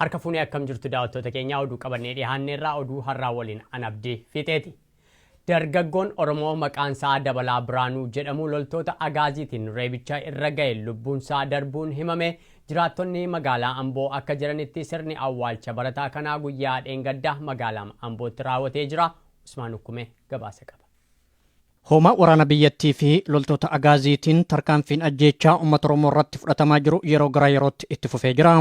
Harka fuunee akkam jirtu daawwattoota keenyaa oduu qabannee dhiyaanne irraa oduu har'aa waliin an abdii fiixeeti. Dargaggoon Oromoo maqaan isaa Dabalaa Biraanuu jedhamu loltoota Agaaziitiin reebicha irra ga'e lubbuun isaa darbuun himame jiraattonni magaalaa Amboo akka jiranitti sirni awwaalcha barataa kanaa guyyaa dheengadda magaalaa Ambootti raawwatee jira. Usmaan Ukkumee gabaasa qaba. Hoomaa waraana biyyattii fi loltoota Agaaziitiin tarkaanfiin ajjeechaa uummata Oromoo irratti fudhatamaa jiru yeroo gara yerootti itti fufee jira.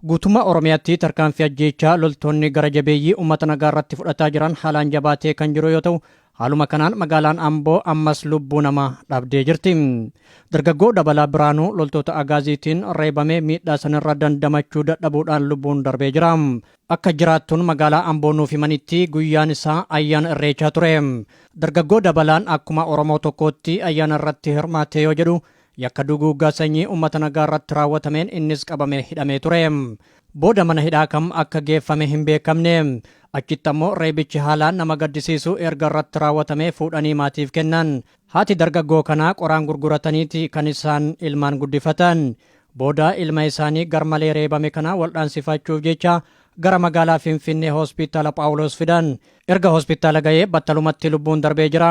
Guutummaa Oromiyaatti tarkaanfii ajjeechaa loltoonni gara jabeeyyii uummata nagaa irratti fudhataa jiran haalaan jabaatee kan jiru yoo ta'u, haaluma kanaan magaalaan Amboo ammas lubbuu namaa dhabdee jirti. Dargaggoo Dabalaa Biraanuu loltoota Agaaziitiin reebamee miidhaa sanirra dandamachuu dadhabuudhaan lubbuun darbee jira. Akka jiraattuun magaalaa Amboo nuuf himanitti guyyaan isaa ayyaana Irreechaa ture. Dargaggoo Dabalaan akkuma Oromoo tokkootti ayyaana irratti hirmaatee yoo jedhu yakka duguuggaa sanyii uummata nagaa irratti raawwatameen innis qabamee hidhamee ture. Booda mana hidhaa kam akka geeffame hin beekamne. Achitti ammoo reebichi haalaan nama gaddisiisu erga irratti raawwatamee fuudhanii maatiif kennan. Haati dargaggoo kanaa qoraan gurgurataniiti kan isaan ilmaan guddifatan. Booda ilma isaanii garmalee reebame kana waldhaansifachuuf jecha gara magaalaa Finfinnee Hospitaala Phaawuloos fidan. Erga hospitaala ga'ee battalumatti lubbuun darbee jira.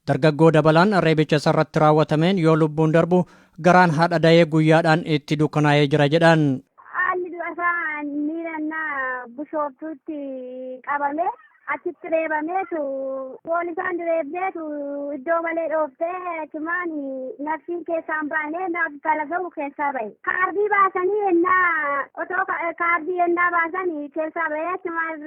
Dargaggoo Dabalaan reebicha isarratti raawwatameen yoo lubbuun darbu garaan haadha dayee guyyaadhaan itti dukkanaa'ee jira jedhan. Haalli du'a isaa miira innaa bushooftuutti qabame Achitti reebameetu foon isaan reebdeetu iddoo malee dhooftee achumaan nafsiin keessaan baanee naaf talaga'u keessaa bahe. Kaardii baasanii ennaa otoo kaardii ennaa baasan keessaa bahee achumaan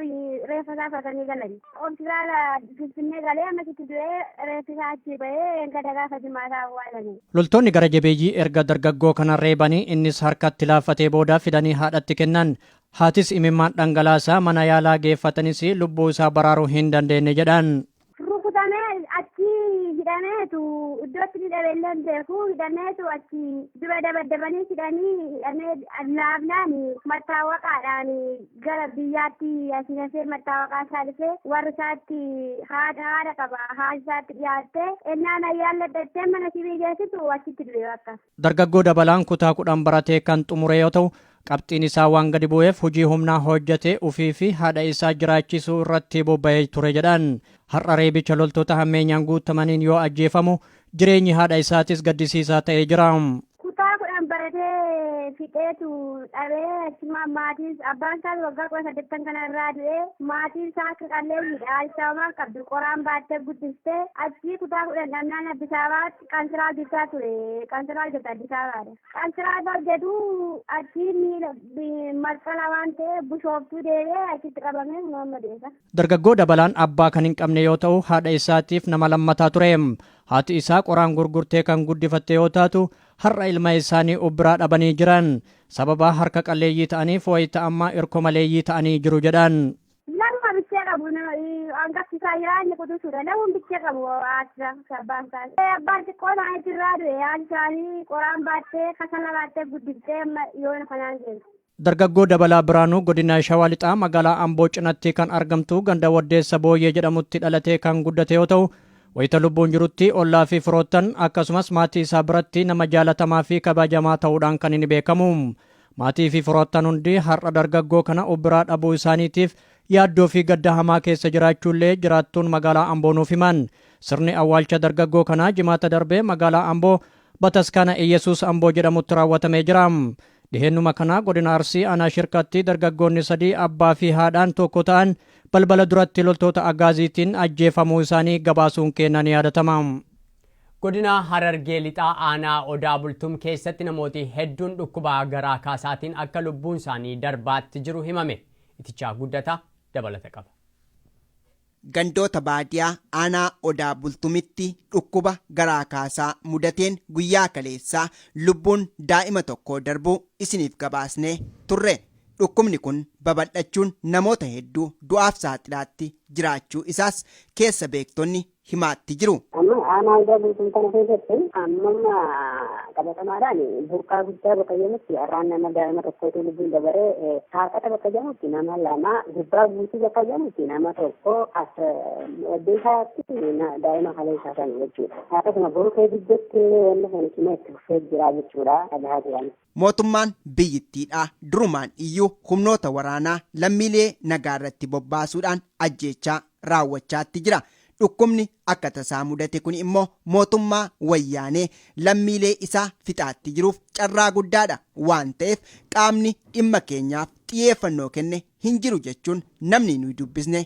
reeffa isaa fatanii galan. Hospitaala Finfinnee galee ammasitti du'ee reeffi isaa achii bahee gada gaafa jimaataa awwaalanii. Loltoonni gara jabeeyyii erga dargaggoo kana reebanii innis harkatti laaffatee booda fidanii haadhatti kennan. Haatis imimmaan dhangalaasaa mana yaalaa geeffatanis lubbuu isaa baraaruu hin dandeenye jedhan. Rukutamee achi hidhameetu iddootti ni dhabe illee hin beeku hidhameetu achi dura dabaddabanii hidhanii hidhamee laafnaan mattaawaqaadhaan gara biyyaatti asii hafee mattaawaqaa isaa dhufee warri isaatti haadha haadha qaba haadha isaatti dhiyaattee ennaan ayyaan laddattee mana sibii geessitu achitti du'e bakka. Dargaggoo Dabalaan kutaa kudhan baratee kan xumure yoo ta'u, qabxiin isaa waan gadi bu'eef hojii humnaa hojjetee ofii fi haadha isaa jiraachisuu irratti bobba'ee ture jedhan. Har'a reebicha loltoota hammeenyaan guutamaniin yoo ajjeefamu, jireenyi haadha isaatis gaddisiisaa ta'ee jira. Kutaa kudhan baratee fixeetu dhabee achumaan maatiin abbaan isaas waggaa kudha saddeettan kana irraa du'ee maatiin isaa akka qalleeyyiidha. Haati isaa homaa qabdu qoraan baattee guddiste achii kutaa kudhan dhabnaan Addis Ababaatti Qansiraa hojjechaa ture. Qansiraa hojjeta Addis Ababaadha. Qansiraa irra hojjetu achiin miila masqala waan ta'e bushooftuu deebi'ee achitti qabamee kunoo amma deessa. Dargaggoo Dabalaan abbaa kan hin qabne yoo ta'u haadha isaatiif nama lammataa ture. Haati isaa qoraan gurgurtee kan guddifatte yoo taatu har'a ilma isaanii of biraa dhabanii jiran. Sababa harka qalleeyyii ta'aniif wayita ammaa irko maleeyyii ta'anii jiru jedhan. Namuma bichee qabu hangafti isaa jira inni quxisuudha. Namuun bichee qabu haadha abbaan isaa. Abbaan xiqqoo isaanii jirraa du'e haati isaanii qoraan baattee kasala baattee guddiftee amma yoona kanaan deemti. Dargaggoo Dabalaa Biraanuu godina Shawaa Lixaa magaalaa Amboo cinatti kan argamtu ganda Waddeessa Booyyee jedhamutti dhalatee kan guddate yoo ta'u, wayita lubbuun jirutti ollaa fi firoottan akkasumas maatii isaa biratti nama jaalatamaa fi kabajamaa ta'uudhaan kan inni beekamu. Maatii fi firoottan hundi har'a dargaggoo kana of biraa dhabuu isaaniitiif yaaddoo fi gadda hamaa keessa jiraachuu illee jiraattuun magaalaa Amboo nuuf himan. Sirni awwaalcha dargaggoo kanaa jimaata darbe magaalaa Amboo Bataskaana Iyyasuus Amboo jedhamutti raawwatamee jira. Dhiheennuma kana godina Arsii aanaa Shirkatti dargaggoonni sadii abbaa fi haadhaan tokko ta'an balbala duratti loltoota Agaaziitiin ajjeefamuu isaanii gabaasuun keenya ni yaadatama. Godina Harargee Lixaa Aanaa Odaa Bultum keessatti namooti hedduun dhukkuba garaa kaasaatiin akka lubbuun isaanii darbaatti jiru himame. Itichaa Guddataa dabalata qaba. Gandoota baadiyaa aanaa Odaa Bultumitti dhukkuba garaa kaasaa mudateen guyyaa kaleessaa lubbuun daa'ima tokkoo darbuu isiniif gabaasnee turre. Dhukkubni kun babal'achuun namoota hedduu du'aaf saaxilaatti jiraachuu isaas keessa beektonni himaatti jiru. Amma aanaa Odaa Bultum kana keessatti ammamma qabatamaadhaan burqaa guddaa bakka jedhamutti har'aan nama daa'ima tokkootu lubbuun dabaree saaqata bakka jedhamutti nama lama gubbaa guutuu bakka jedhamutti nama tokko as deesaatti daa'ima kaleessaa sana jechuudha. Akkasuma boruu kee gidduutti illee wanni kun cimee itti fufee jira jechuudha dhagahaa jiran. Mootummaan biyyittiidhaa durumaan iyyuu humnoota waraanaa lammiilee nagaarratti bobbaasuudhaan ajjeechaa raawwachaatti jira. Dhukkubni akka tasaa mudate kuni immoo mootummaa wayyaanee lammiilee isaa fixaatti jiruuf carraa guddaadha. Waan ta'eef qaamni dhimma keenyaaf xiyeeffannoo kenne hin jiru jechuun namni nuyi dubbisne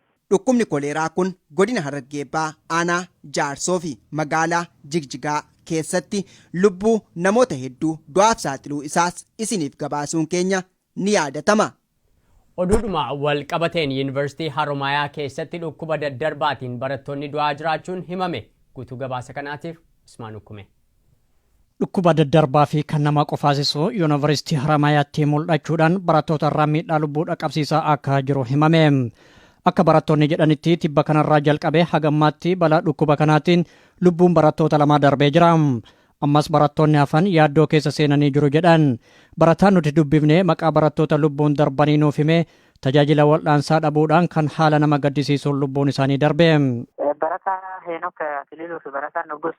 Dhukkubni koleeraa kun godina Harargee Baha aanaa Jaarsoo fi magaalaa Jigjigaa keessatti lubbuu namoota hedduu du'aaf saaxiluu isaas isiniif gabaasuun keenya ni yaadatama. Oduudhuma wal qabateen Yuunivarsiitii Haromaayaa keessatti dhukkuba daddarbaatiin barattoonni du'aa jiraachuun himame. Guutuu gabaasa kanaatiif Usmaan Ukkumee. Dhukkuba daddarbaa fi kan nama qofaasisu Yuunivarsiitii Haramaayaatti mul'achuudhaan barattoota irraa miidhaa lubbuu dhaqqabsiisaa akka jiru himame. Akka barattoonni jedhanitti tibba kanarraa jalqabee hagammaatti balaa dhukkuba kanaatiin lubbuun barattoota lamaa darbee jira. Ammas barattoonni hafan yaaddoo keessa seenanii jiru jedhan. Barataan nuti dubbifne maqaa barattoota lubbuun darbanii nuuf himee Tajaajila wal'aansaa dhabuudhaan kan haala nama gaddisiisuun lubbuun isaanii darbe. Barataa Heenok Akililuu fi barataa Nugus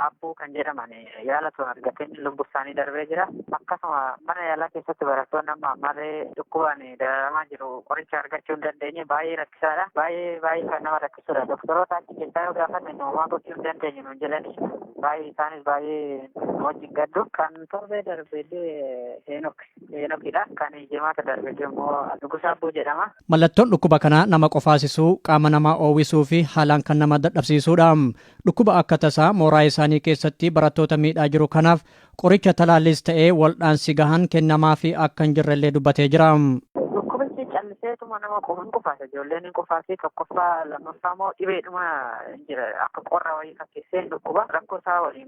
Abbuu kan jedhaman yaala osoo argatiin lubbu isaanii darbee jira. Akkasuma mana yaalaa keessatti barattoonni amma ammallee dhukkubaan dararamaa jiru. Qoricha argachuu hin dandeenye baay'ee rakkisaadha. Baay'ee baay'ee kan nama rakkisudha. Doktoroota achi keessaa yoo gaafanne homaa gochuu hin dandeenye nuun jedhani. Baay'ee isaanis baay'ee wajjin gaddu. Kan torbee darbee Heenok Heenokidha. Kan jimaata darbe immoo Nugus Abbuu jedhama. Mallattoon dhukkuba kanaa nama qofaasisuu, qaama namaa oowwisuu fi haalaan kan nama dadhabsiisuudha. Dhukkuba akka tasaa mooraa isaanii keessatti barattoota miidhaa jiru kanaaf qoricha talaalliis ta'ee waldhaansi gahaan kennamaafii akka hin jirrellee dubbatee jira. Dhukkubichi calliseetuma nama qofa hin qufaasa. Ijoolleen hin qufaasi. Tokkoffaa lammaffaa immoo dhibeedhuma jira. Akka qorra wayii fakkeessee hin dhukkuba. Rakkoo isaa waliin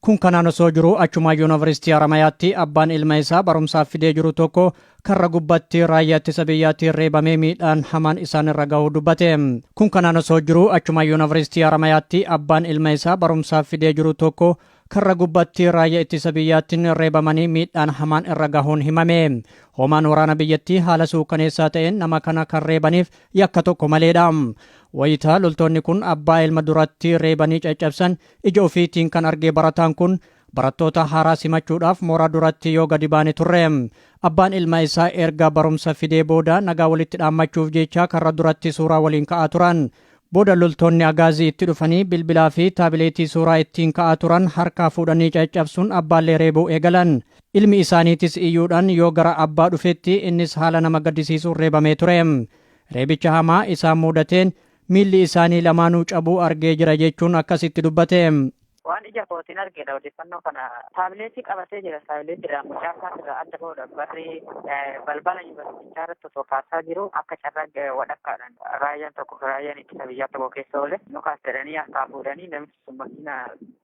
Kun kanaan osoo jiruu achumaa Yuunivarsiitii Haramayaatti abbaan ilma isaa barumsaaf fidee jiru tokko karra gubbatti raayyaa ittisa biyyaatiin reebamee miidhaan hamaan isaan irra gahuu dubbate. Kun kanaan osoo jiruu achumaa Yuunivarsiitii Haramayaatti abbaan ilma isaa barumsaaf fidee jiru tokko karra gubbatti raayyaa ittisa biyyaatiin reebamanii miidhaan hamaan irra gahuun himame. Hoomaan waraana biyyattii haala suukaneessaa ta'een nama kana kan reebaniif yakka tokko maleedha. Wayitaa loltoonni kun abbaa ilma duratti reebanii caccabsan Ija ofiitiin kan argee barataan kun barattoota haaraa simachuudhaaf mooraa duratti yoo gadi baane turre. Abbaan ilma isaa erga barumsa fidee booda nagaa walitti dhaammachuuf jecha karra duratti suuraa waliin ka'aa turan. Booda loltoonni agaazii itti dhufanii bilbilaa fi taabileetii suuraa ittiin ka'aa turan harkaa fuudhanii caccabsuun abbaallee reebuu eegalan. Ilmi isaaniitis iyyuudhaan yoo gara abbaa dhufetti innis haala nama gaddisiisuun reebamee ture. Reebicha hamaa isaan muudateen Miilli isaanii lamaanuu cabuu argee jira jechuun akkasitti dubbate. Waan ija kootiin argedha odeeffannoo kana. Taabileetii qabatee jira. Taabileetiidhaan mucaa isaas irraa adda bahuudhaaf barri balbala yuunivarsiitichaa irratti osoo kaasaa jiru akka carraa wadhakkaadhaan raayyaan tokko raayyaan ittisa biyyaa tokko keessa oole nu kaas jedhanii harkaa fuudhanii namichi Makiina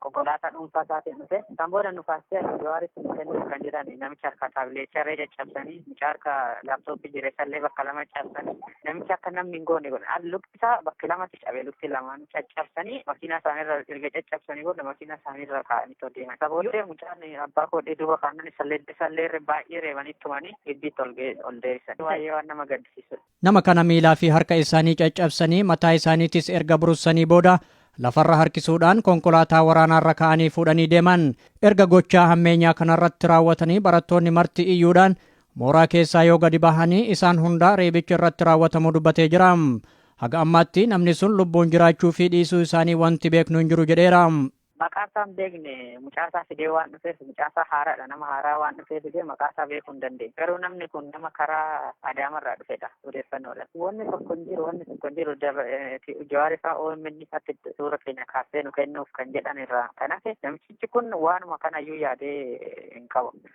konkolaataa dhuunfaa isaatiin dhufe kan booda nu kaastee akka jawaaritti nu kennuuf kan jedhan namicha harka taabileecharree caccabsanii mucaa harka laaptooppii jireessallee bakka lama caccabsanii namicha akka namni hin goone godhan lukti isaa bakka lamatti cabe lukti lamaan caccabsanii makiinaa isaaniirra erga caccabsanii booda makiinaa isaaniirra kaa'anii too deeman isa booddee mucaan abbaa koodhee duuba kaannan isallee isallee baay'ee reebanii tumanii giddiitti ol ol deebisan baay'ee waan nama gaddisiisudha. Nama kana miilaa fi harka isaanii caccabsanii mataa isaaniitis erga burussanii booda lafarra harkisuudhaan konkolaataa waraanaarra ka'anii fuudhanii deeman. Erga gochaa hammeenyaa kanarratti raawwatanii barattoonni marti iyyuudhaan mooraa keessaa yoo gadi bahanii isaan hundaa reebichi irratti raawwatamuu dubbatee jira. Haga ammaatti namni sun lubbuun jiraachuu fi dhiisuu isaanii wanti beeknu hin jiru jedheera. Maqaasaa hin beekne mucaasaa fidee waan dhufeef mucaasaa haaraadha nama haaraa waan dhufee fidee maqaasaa beekuu hin dandeenye garuu namni kun nama karaa adaamarraa dhufedha odeeffannoodha wanni tokko hin jiru wanni tokko hin jiru jawaarifaa OMN irratti suura keenya kaasee nu kennuuf kan jedhan irraa kan hafe namichichi kun waanuma kanayyuu yaadee hin qabu.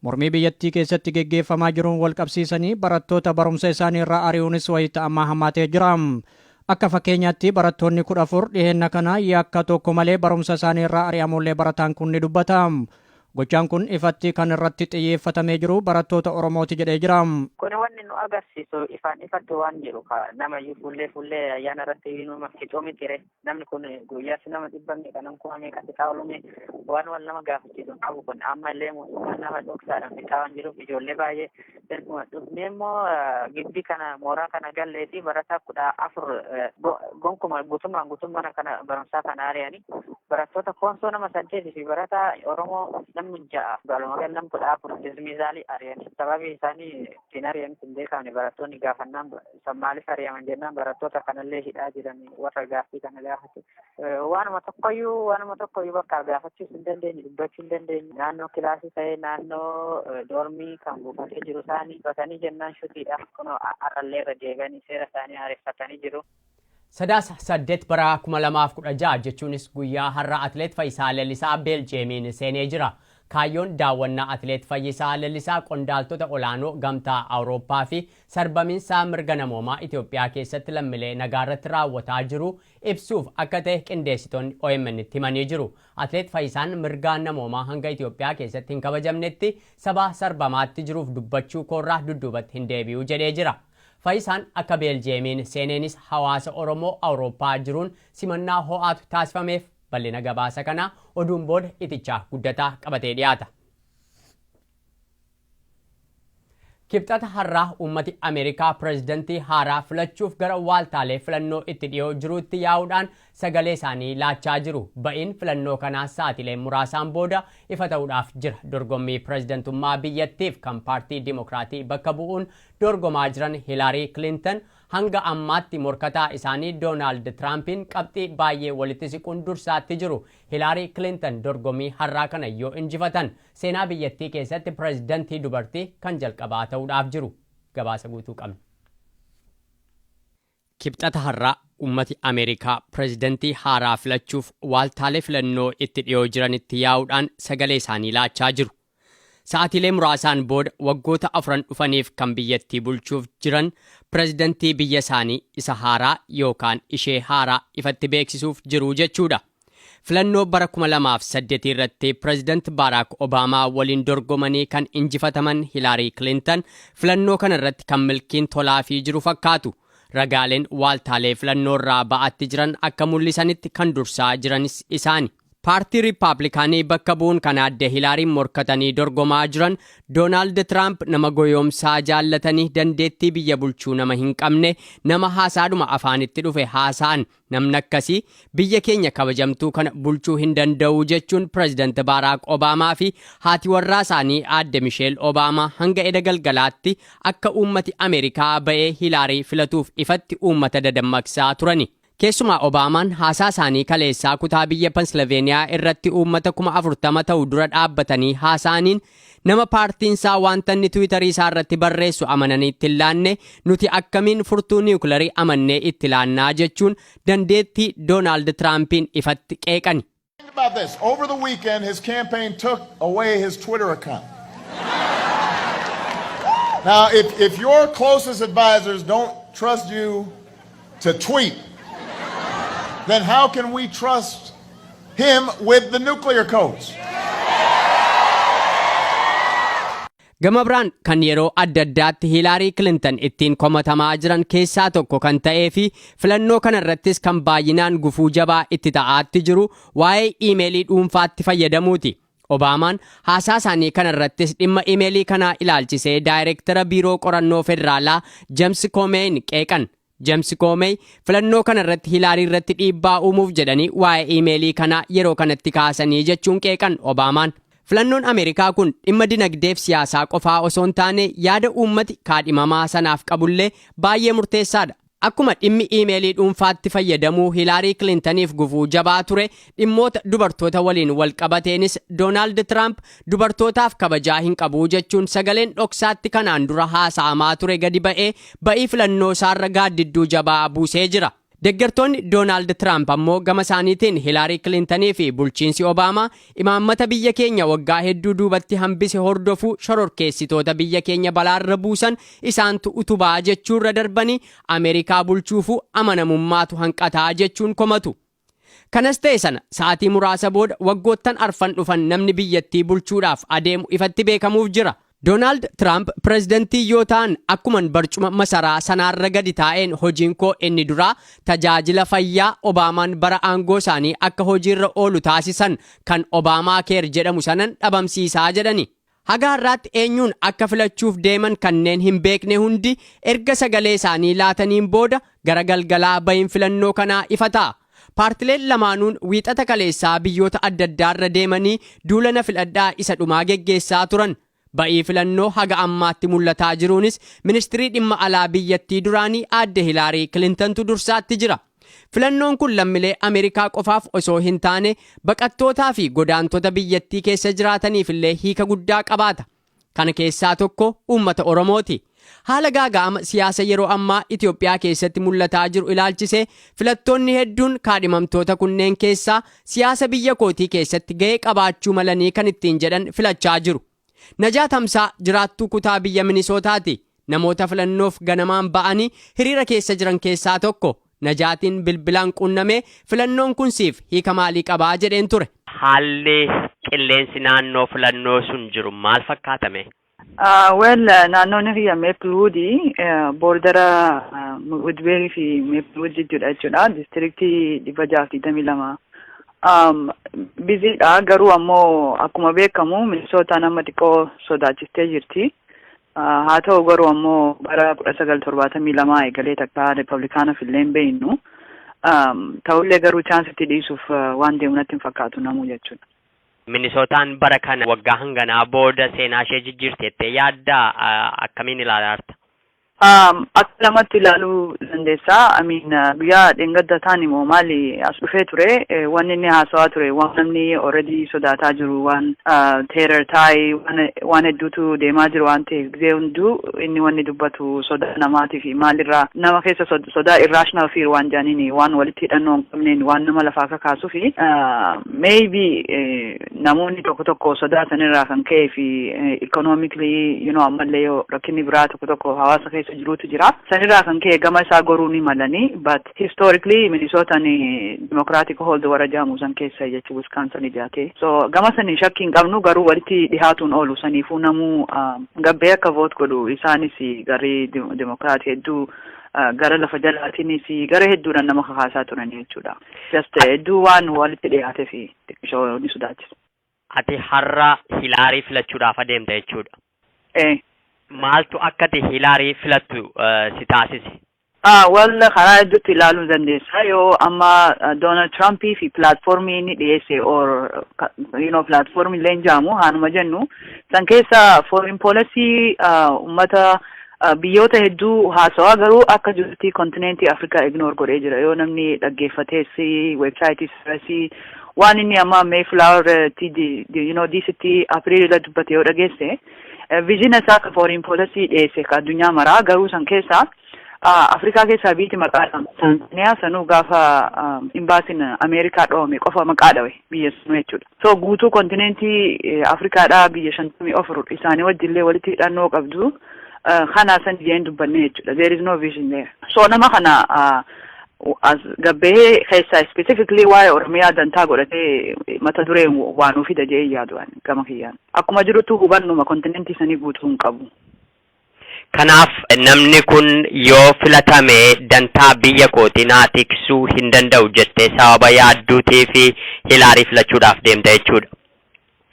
Mormii biyyattii keessatti geggeeffamaa jiruun walqabsiisanii barattoota barumsa isaanii irraa ari'uunis wayita ammaa hammaatee jira. Akka fakkeenyaatti barattoonni 14 dhiheenna kana yakka tokko malee barumsa isaanii irraa ari'amuullee barataan kun ni dubbata. Gochaan kun ifatti kan irratti xiyyeeffatamee jiru barattoota Oromooti jedhee jira. Kuni wanni nu agarsiisu ifaan ifatti waan jiru ka nama iyyuu fuullee fuullee ayyaana irratti inuma fixuu mitire. Namni kun guyyaatti nama dhibba meeqa nam kuma meeqa fixaa oolumee waan wal nama gaafachiisu qabu kun amma illee mootummaan nama dhoksaadhaan fixaa waan jiruuf ijoollee baay'ee erguma dhufnee immoo gibbii kana mooraa kana gallee fi barataa kudha afur gonkuma guutummaan guutummaa kana barumsaa kana ari'anii barattoota koonsoo nama saddeet fi barataa oromoo namni ja'a walumaa gala nam kudha afur dismiizaalii ari'anii sababii isaanii ittiin ari'anis hin beekamne barattoonni gaafannaan san maaliif ari'aman jennaan barattoota kanallee hidhaa jiran warra gaaffii kana gaafatu waanuma tokkoyyuu waanuma tokkoyyuu bakka gaafachuus hin dandeenye dubbachuu hin dandeenye naannoo kilaasii ta'ee naannoo doormii kan buufatee jiru isaanii batanii jennaan shutiidha kunoo har'allee irra deebi'anii seera isaanii haareffatanii jiru. Sadaasa 8 bara 2016 jechuunis guyyaa har'a Atileet Fayisaa Lellisaa Beeljiyeemiin seenee jira. Kaayyoon daawwannaa Atileet Fayyisaa Lellisaa qondaaltota olaanoo Gamtaa Awurooppaa fi sarbamiinsaa mirga namoomaa Itoophiyaa keessatti lammilee nagaarratti raawwataa jiru ibsuuf akka ta'e qindeessitoonni OMNtti himanii jiru. Atileet Fayyisaan mirgaan namoomaa hanga Itoophiyaa keessatti hin kabajamnetti saba sarbamaatti jiruuf dubbachuu koorraa dudduubatti hin deebi'u jedhee jira. Fayisaan akka Beeljiyeemiin seeneenis hawaasa Oromoo Awurooppaa jiruun simannaa ho'aatu taasifameef. Bal'ina gabaasa kanaa oduun booda Iticha Guddataa qabatee dhiyaata. Kibxata har'aa uummati Ameerikaa pirezidantii haaraa filachuuf gara waaltaalee filannoo itti dhiyoo jiruutti yaa'uudhaan sagalee isaanii laachaa jiru. Ba'iin filannoo kanaa sa'atilee muraasaan booda ifa ta'uudhaaf jira. Dorgommii pirezidantummaa biyyattiif kan paartii Dimokiraatii bakka bu'uun dorgomaa jiran Hilaarii Kilintan hanga ammaatti morkataa isaanii Doonaald Tiraampiin qabxii baayyee walitti siquun dursaatti jiru. Hilaarii Kilintan dorgommii har'aa kana yoo injifatan seenaa biyyattii keessatti pirezidantii dubartii kan jalqabaa ta'uudhaaf jiru. Gabaasa guutuu qabna. Kibxata har'aa ummati Ameerikaa pirezidantii haaraa filachuuf waaltaalee filannoo itti dhiyoo jiranitti yaa'uudhaan sagalee isaanii laachaa jiru. Sa'aatiilee muraasaan booda waggoota afran dhufaniif kan biyyattii bulchuuf jiran pirezidantii biyya isaanii isa haaraa yookaan ishee haaraa ifatti beeksisuuf jiru jechuudha. Filannoo bara 2008 irratti Pireezidant Baaraak Obaamaa waliin dorgomanii kan injifataman Hilaarii Kilintan filannoo kana irratti kan milkiin tolaafii jiru fakkaatu. Ragaaleen waaltaalee filannoo irraa ba'atti jiran akka mul'isanitti kan dursaa jiranis isaani. Paartii Riippaabilikaanii bakka bu'uun kan aadde Hilaariin morkatanii dorgomaa jiran Doonaald Tiraamp nama goyoomsaa jaallatanii dandeettii biyya bulchuu nama hin qabne nama haasaadhuma afaanitti dhufe haasaan Namni akkasii biyya keenya kabajamtuu kana bulchuu hin danda'u jechuun Pireezidant Baaraak Obaamaa fi haati warraa isaanii aadde Misheel Obaamaa hanga eda galgalaatti akka uummati Ameerikaa ba'ee Hilaarii filatuuf ifatti uummata dadammaqsaa turani. Keessumaa Obaamaan haasaa isaanii kaleessaa kutaa biyya Pensilaveeniyaa irratti uummata kuma 40 ta'u dura dhaabbatanii haasa'aniin Nama paartiin isaa wanta inni Twitter isaa irratti barreessu amananii itti hin laanne, nuti akkamiin furtuu niwukilarii amannee itti laannaa jechuun dandeettii Doonaald Tiraampiin ifatti qeeqani. Think about this, over the weekend his campaign took away his Twitter account. Now if, if your closest advisors don't trust you to tweet, then how can we trust him with the nuclear codes? Gama biraan kan yeroo adda addaatti Hiilaarii Kilintan ittiin komatamaa jiran keessaa tokko kan ta'ee fi filannoo kana irrattis kan baay'inaan gufuu jabaa itti ta'aatti jiru waa'ee iimeelii dhuunfaatti fayyadamuuti. Obaamaan haasaa isaanii kana irrattis dhimma imeelii kanaa ilaalchisee daayireektara biiroo qorannoo federaalaa James Koomeeyin qeeqan. James Koomeey filannoo kana irratti Hilaarii irratti dhiibbaa uumuuf jedhanii waa'ee imeelii kanaa yeroo kanatti kaasanii jechuun qeeqan Obaamaan. Filannoon Ameerikaa kun dhimma dinagdeef siyaasaa qofaa osoo hin taane yaada uummati kaadhimamaa sanaaf qabullee baay'ee murteessaadha. Akkuma dhimmi iimeelii dhuunfaatti fayyadamuu Hilaarii Kilintaniif gufuu jabaa ture, dhimmoota dubartoota waliin wal qabateenis Doonaald Tiraamp dubartootaaf kabajaa hin qabu jechuun sagaleen dhoksaatti kanaan dura haasa'amaa ture gadi ba'ee ba'ii filannoosaarra gaaddidduu jabaa buusee jira. Deggertoonni Doonaald Tiraamp ammoo gama isaaniitiin Hilaarii Kilintanii fi bulchiinsi Obaamaa Imaammata biyya keenya waggaa hedduu duubatti hambise hordofuu shororkeessitoota biyya keenya balaarra buusan isaantu utubaa jechuurra darbanii Ameerikaa bulchuufuu amanamummaatu hanqata jechuun komatu. Kanas ta'e sana sa'atii muraasa booda waggoottan arfan dhufan namni biyyattii bulchuudhaaf adeemu ifatti beekamuuf jira. Doonaald Tiraamp pirezidantii yoo ta'an akkuman barcuma masaraa sanaarra gadi taa'een hojiin koo inni duraa tajaajila fayyaa Obaamaan bara aangoo isaanii akka hojiirra oolu taasisan kan Obaamaa Keer jedhamu sanan dhabamsiisaa jedhani. Haga har'aatti eenyuun akka filachuuf deeman kanneen hin beekne hundi erga sagalee isaanii laataniin booda gara galgalaa bahiin filannoo kanaa ifa ta'a. Paartileen lamaanuun wiixata kaleessaa biyyoota addaddaarra deemanii duula na filadhaa isa dhumaa geggeessaa turan. Ba'ii filannoo haga ammaatti mul'ataa jiruunis ministirii dhimma alaa biyyattii duraanii aadde Hilaarii Kilintantu dursaatti jira. Filannoon kun lammilee Ameerikaa qofaaf osoo hin taane baqattootaa fi godaantota biyyattii keessa jiraataniifillee hiika guddaa qabaata. Kana keessaa tokko uummata Oromooti. Haala gaaga'ama siyaasa yeroo ammaa Itoophiyaa keessatti mul'ataa jiru ilaalchisee filattoonni hedduun kaadhimamtoota kunneen keessaa siyaasa biyya kootii keessatti ga'ee qabaachuu malanii kan ittiin jedhan filachaa jiru. Najaat Hamsaa jiraattuu kutaa biyya Minisootaati. Namoota filannoof ganamaan ba'anii hiriira keessa jiran keessaa tokko. Najaatiin bilbilaan quunnamee filannoon kun siif hiika maalii qabaa jedheen ture. Haalli qilleensi naannoo filannoo sun jiru maal fakkaata mee? Well naannoon kiyya Maplewood boordara Woodbury fi Maplewood jidduudha jechuudha. Diistiriktii dhibba jahaaf digdamii lama. Biziidha garuu ammoo akkuma beekamu Minisootaan amma xiqqoo sodaachistee jirti. Haa ta'u garuu ammoo bara kudha sagal torbaatamii lamaa eegalee takka Riippablikaanaf illee hin beeknu. Ta'ullee garuu chaansitti dhiisuuf waan deemu natti hin fakkaatu namuu jechuudha. Minisootaan bara kana waggaa hanganaa booda seenaa ishee jijjiirti jettee yaaddaa akkamiin ilaalaarta? Akka lamatti ilaaluu dandeessa. Amiin guyyaa dheengadda taani moo maali as dhufee ture wanni inni haasawaa ture waan namni already sodaataa jiru waan teerar taa'e waan Waan hedduutu deemaa jiru waan ta'eef gizee hunduu inni wanni dubbatu sodaa namaatii fi maalirraa nama keessa sodaa irrational fear waan jaaniin waan walitti hidhannoo hin qabneen waan nama lafaa kakaasuu fi maybe namoonni tokko tokko sodaa sanirraa kan ka'ee fi economically you know ammallee yoo rakkinni biraa tokko tokko hawaasa keessa jiruutu jira sanirraa kan ka'e gama isaa goruu ni malanii but Historically Minnesota ni democratic hold warra jedhamu san keessa jechuun Wisconsin ijaate. So gama saniin shakkii hin qabnu garuu walitti dhihaatuun oolu saniifuu namuu gabbee akka vote godhu isaanis garii democrat hedduu gara lafa jalaatiinis gara hedduudhaan nama kakaasaa turan jechuudha. Just hedduu waan walitti dhihaateef xiqqishoo ni sodaachisa. Ati har'a Hilaarii filachuudhaaf adeemta jechuudha. Ee. Maaltu akka ati Hilaarii filattu si taasise? Ah, well karaa hedduutti ilaaluu ni dandeessa. Yoo amma Donald Trump fi platformii inni dhiyeesse or you know platformii illee hin jaamu haanuma jennu san keessa foreign policy ummata biyyoota hedduu haasawaa garuu akka jirti kontineentii Afrikaa ignore godhee jira yoo namni dhaggeeffatees websaayitii sirasii Waan inni amma Mayflower ti you know diisitti April irra dubbate yoo dhageesse vizhina isaa ka foreign policy dhiyeesse ka addunyaa maraa garuu san keessaa Afrikaa keessaa biiti maqaa dhama. Tanzaniyaa sanuu gaafa imbaasiin Ameerikaa dhoome qofa maqaa dhawe biyya sanuu jechuudha. So guutuu kontineentii Afrikaadhaa biyya shantamii ofur isaanii wajjillee walitti hidhannoo qabdu. Kana san jeen dubbanne jechuudha. There is no vision there. So nama kana as gabbahee keessaa specifically waa'ee Oromiyaa dantaa godhatee mata duree waa nuu fida jedhee yaadu ani gama kiyyaan. Akkuma jirutu hubannuma kontinentii sanii guutuu hin qabu. Kanaaf namni kun yoo filatame dantaa biyya kootii naa tiksuu hin danda'u jettee sababa yaadduutii fi Hilaarii filachuudhaaf deemta jechuudha.